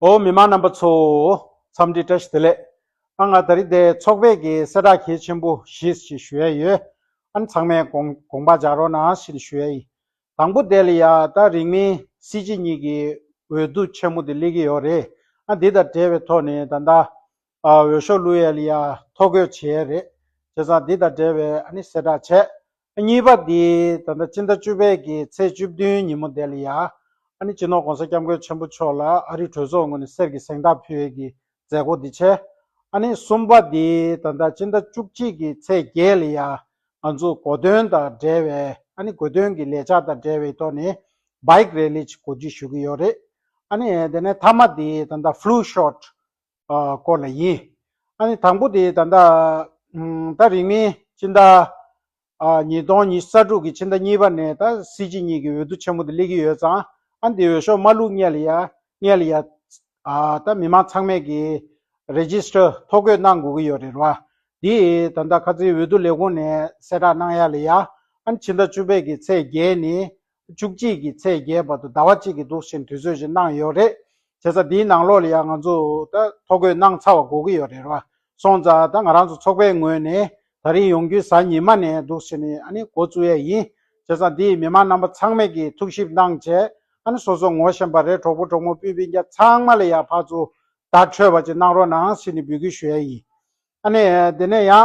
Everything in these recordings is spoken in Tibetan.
ཨོ་མི་མང་རྣམ་པ་ཚོ། འཚམས་འདྲི་བཀྲ་ཤིས་བདེ་ལེགས། ཨ་ང་ད་རི་དེ་ཚོགས་པས་ཀྱི་གསལ་བསྒྲགས་གལ་ཆེན་པོ་ཞིས་ཞེས་ཞུ་ཡས་ཡོད། ཨ་ནི་ཚང་མས་དགོངས་པ་འཇགས་རོགས་གནང་ཞེས་ཞུ་ཡས་ཡིན། དང་པོ་དེ་ལ་ཡང་ད་རིང་མིན་སྲིད་སྤྱི་གཉིས་ཀྱི་འོས་བསྡུ་ཆེན་མོ་དེ་སླེབས་ཀྱི་ཡོད་རེད། ཨ་འདི་དང་འབྲེལ་བའི་ཐོག་ནས་ད་ད། འོས་ཤོག་བླུ་ཡ་ལི་ཡ་ཐོ་འགོད་བྱེད་ཡས་རེད་བྱས་ཙང་འདི་དང་འབྲེལ་བའི་ཨ་ནི་གསལ་བསྒྲགས་བྱས། གཉིས་པ་འདི་ད་ལྟ་སྤྱི་ཟླ་བཅུ་པའི་གི་ཚེས་བཅུ་བདུན་ཉིན་མོ་འདས་ལི་ཡ་ཨ་ནི་སྤྱི་ནོར་གོང་ས་སྐྱབས་མགོན་ཆེན་པོ་མཆོག་ལ་ཨ་རི་གྲོས་ཚོགས་ངོས་ནས་གསེར་གྱི་གཟེངས་རྟགས་ཕུལ་ཡས་གི་མཛད་སྒོ་འདི་བྱས། ཨ་ནི་གསུམ་པ་འདི་ད་ལྟ་སྤྱི་ཟླ་བཅུ་གཅིག་གི་ཚེས་བརྒྱད་ལི་ཡ་ང་ཚོ་གོ་སྟོན་དང་འབྲེལ་བའི་ཨ་ནི་གོ་སྟོན་གི་ལས་འཆར་དང་འབྲེལ་བའི་ཐོག་ནས Bike Rally གོ་སྒྲིག་ཞུ་གི་ཡོད་རེད། ཨ་ནི་དེ་ནས་ཐ་མ་འདི་ད་ལྟ Flu Shot སྐོར་ལ་ཡིན། ཨ་ནི་དང་པོ་དེ་ད་ལྟ། ད་རིང་མིན་ཕྱི་ཟླ། ཉིས་སྟོང་ཉི་ས་དྲུག་གི་ཕྱི་ཟླ་གཉིས་པ་ནས་ད་སྲིད་སྤྱི་གཉིས་ཀྱི་འོས་བསྡུ་ཆེན་མོ་དེ་སླེབས་ཀྱི་ཡོད་ཙང་ཨ་ནི་དེ་འོས་ཤོག་མ་བླུགས་སྔས་ལ་ཡ་སྔས་ལ་ཡ། ད་མི་མང་ཚང་མས་ཀྱི Register ཐོ་འགོད་གནང་དགོས་ཀྱི་ཡོད་རེད་ར། དེ་ད་ལྟ་ཁ་ཚིག་འོས་བསྡུ་ལས་ཁུངས་ནས་གསལ་བསྒྲགས་གནང་ཡ་ལ་ཡ། ཨ་ནི་ཕྱི་ཟླ་བཅུ་པའི་གི་ཚེས་བརྒྱད་ནི་བཅུ་གཅིག་གི་ཚེས་བརྒྱད་བར་དུ་ཟླ་བ་གཅིག་གི་དུག་ཆེན་དུས་ཚོད་བཞིན་གནང་ཡོད་རེད། བྱས་ཙང་དེའི་ནང་ལོགས་ལ་ཡང་ང་ཚོ་ད་ཐོ་འགོད་གནང་ཚར་བ་གོ་གི་ཡོད་རེད་བ། སོང་ཙང་ད་ང་རང་ཚོ་ཚོགས་པའི་ངོས་ནས་ད་རིང་ཡོང་རྒྱུའི་གཟའ་ཉི་མ་ནས་དུག་ཆེན་ཨ་ནི་འགོ་བཙུགས་ཡས་ཡིན། བྱས་ཙང་དེའི་མི་མང་རྣམ་པ་ཚང་མས་ཀྱི་ཐུགས་ཞིབ་གནང་བྱས་ཨ་ནི་སོ་སོ་ངོ་ཤེས་པ་རེད་གྲོགས་པོ་གྲོགས་མོ་སྤུན་སྤུན་རྒྱ་ཚང་མ་ལ་ཡང་ཕར་ཚུར་བརྡ་འཕྲོད་པ་ཅིག་གནང་རོགས་གནང་ཞེས་ནི་འབུལ་སྐུལ་ཞུ་ཡས་ཡིན། ཨ་ནི་དེ་ནས་ཡང།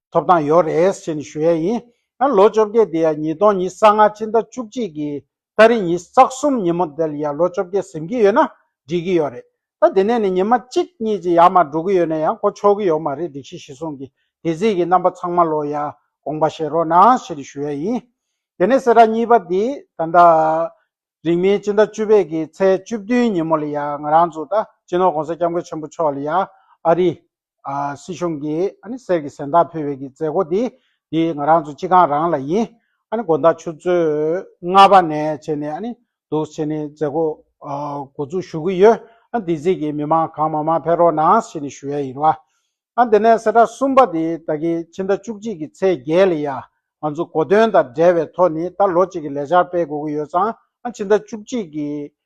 ཐོབ་ཐང་ཡོད་རེད་ཞེས་ནི་ཞུ་ཡ་ཡིན། ཡང་ལོ་བཅོ་བརྒྱད་དེ་ཡ་ཉིས་སྟོང་ཉིས་ས་ལྔ་ཕྱི་ཟླ་བཅུ་གཅིག་གི་ལྟ་རི་ཉིས་རྩ་གསུམ་ཉིན་མོ་དེར་ཡ་ལོ་བཅོ་བརྒྱད་ཟིན་གྱི་ཡོད་ན་འགྲིག་གི་ཡོད་རེད། ད་དེ་ནས་ནི་ཉིན་མ་གཅིག་གཉིས་ཀྱི་ཡར་མར་འགྲོ་གི་ཡོད་ནས་ཡང་གོ་ཆོག་གི་ཡོད་མ་རེད་སྒྲིག་གཞི་གཞི་བཟུང་གི་དེ་རྩིས་ཀྱི་རྣམ་པ་ཚང་མ་ལོ་ཡ་དགོངས་པ་བཞེས་རོགས་གནང་ཞེས་ནི་ཞུ་ཡ་ཡིན། དེ་ནས་སེ་ར་གཉིས་པ་དེ་ད་ལྟ་རིང་མིན་ཕྱི་ཟླ་བཅུ་པའི་གི་ཚེས་བཅུ་བདུན་ཉིན་མོ་ལ་ཡ་ང་རང་ཚོ་ད་ཅི་ནོར་གོང་ས་སྐྱབས་མགོན་ཆེན་པོ་མཆོག་ལ་ཡ་ཨ་རི་སྲིད་གཞུང་གིས་གསེར་གྱི་གཟེངས་རྟགས་ཕུལ་བའི་མཛད་སྒོ་འདི་འདི་ང་རང་ཚོ་སྤྱི་ཁང་རང་ལ་ཡིན། དགོན་བདག་ཆུ་ཚོད་ལྔ་པ་ནས་བྱས་ནས་འདུག་བྱས་ནས་མཛད་སྒོ་འགོ་འཛུགས་ཞུ་གི་ཡོད། འདི་གཟིགས་ཀྱི་མི་མང་གང་མང་མང་ཕེབས་རོགས་གནང་ཞེས་ནས་ཞུ་ཡ་ཡིན། དེ་ནས་གསེར་རྟགས་གསུམ་པ་འདི་ད་གིན་ཕྱི་ཟླ་བཅུ་གཅིག་གི་ཚེས་བརྒྱད་ལ་ཡང་ང་ཚོ་གོ་སྟོན་དང་འབྲེལ་བའི་ཐོག་ནས་ད་ལོ་གཅིག་གི་ལས་འཆར་སྤེལ་དགོས་ཀྱི་ཡོད་ཙང་ཕྱི་ཟླ་བཅུ་གཅིག་གི་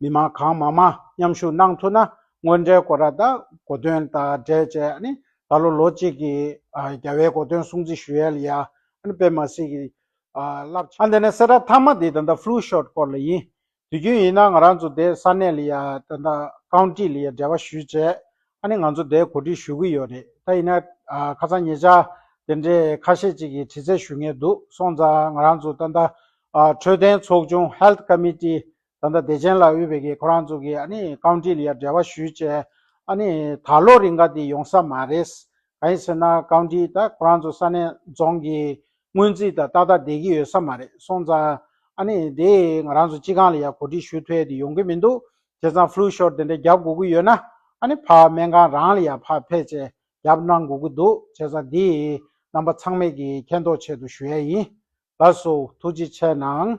མི་དམངས་གང་མང་མང་མཉམ་ཞུགས་གནང་ཐུབ་ན་དངོས་འབྲེལ་སྐོར་ར་དང་གོ་དོན་དང་འབྲེལ་བཅས་ནི་ད་ལོ་ལོ་གཅིག་གི་རྒྱལ་བའི་གོ་དོན་སྲུང་བརྩི་ཞུ་ཡལ་ཡང་སྤེལ་མ་སྲིད་ཀྱི་རླབས་ཆེན། འདི་ནི་སེར་སྒྲ་ཐ་མ་དེ་ད་ལྟ Flu Shot སྐོར་ལ་ཡིན། དུས་རྒྱུན་ཡིན་ན་ང་རང་ཚོ་དེ་ས་གནས་ལ་ཡང་ད་ལྟ County ལ་ཡང་འབྲེལ་བ་ཞུས་རྗེས་ང་ཚོ་དེ་གོ་སྒྲིག་ཞུ་གི་ཡོད་རེད་ད་ཡིན་ན་ཁ་ཚང་ངེད་ཅག་དེ་འདྲའི་ཁ་ཤས་ཅིག་གིས་དྲི་རྩད་ཞུ་ངེས་འདུག་སོང་ཙང་ང་རང་ཚོ་ད་ལྟ་འཕྲོད་བསྟེན་ཚོགས་ཆུང Health Committee ད་ལྟ་བདེ་ཆེན་ལ་དབུས་བོད་ཀྱི་ཁོ་རང་ཚོ་གི་ཨ་ནི་རྐང་དྲིལ་ཡར་འབྲེལ་བ་ཞུས་བྱས་ཨ་ནི་ད་ལོ་རིང་ག་དེ་ཡོང་ས་མ་རེད། ག་ཡིན་ཟེར་ན་རྐང་དྲིལ་ད་ཁོ་རང་ཚོ་ས་གནས་རྫོང་གི་སྔོན་རྩིས་ད་ཏག་ཏག་བསྡད་ཀྱི་ཡོད་ས་མ་རེད་སོང་ཙང་ཨ་ནི་དེ་ང་རང་ཚོ་སྤྱི་ཁང་ལ་ཡར་གོ་སྒྲིག་ཞུ་ཐོས་དེ་ཡོང་གི་མི་འདུག་དེ་ཙང་ཕླུ་ཤོར་དེ་འདྲ་བརྒྱབ་དགོས་ཀྱི་ཡོད་ན་ཨ་ནི་ཕ་སྨན་ཁང་རང་ལ་ཡར་ཕར་ཕེབས་བྱས་བརྒྱབ་གནང་དགོས་ཀྱི་འདུག་བྱས་ཙང་དེ་རྣམ་པ་ཚང་མེད་ཀྱི་མཁྱེན་རྟོགས་ཆེད་དུ་ཞུ་ཡས་ཡིན། ལགས་སོ། ཐུགས་རྗེ་ཆེ་གནང།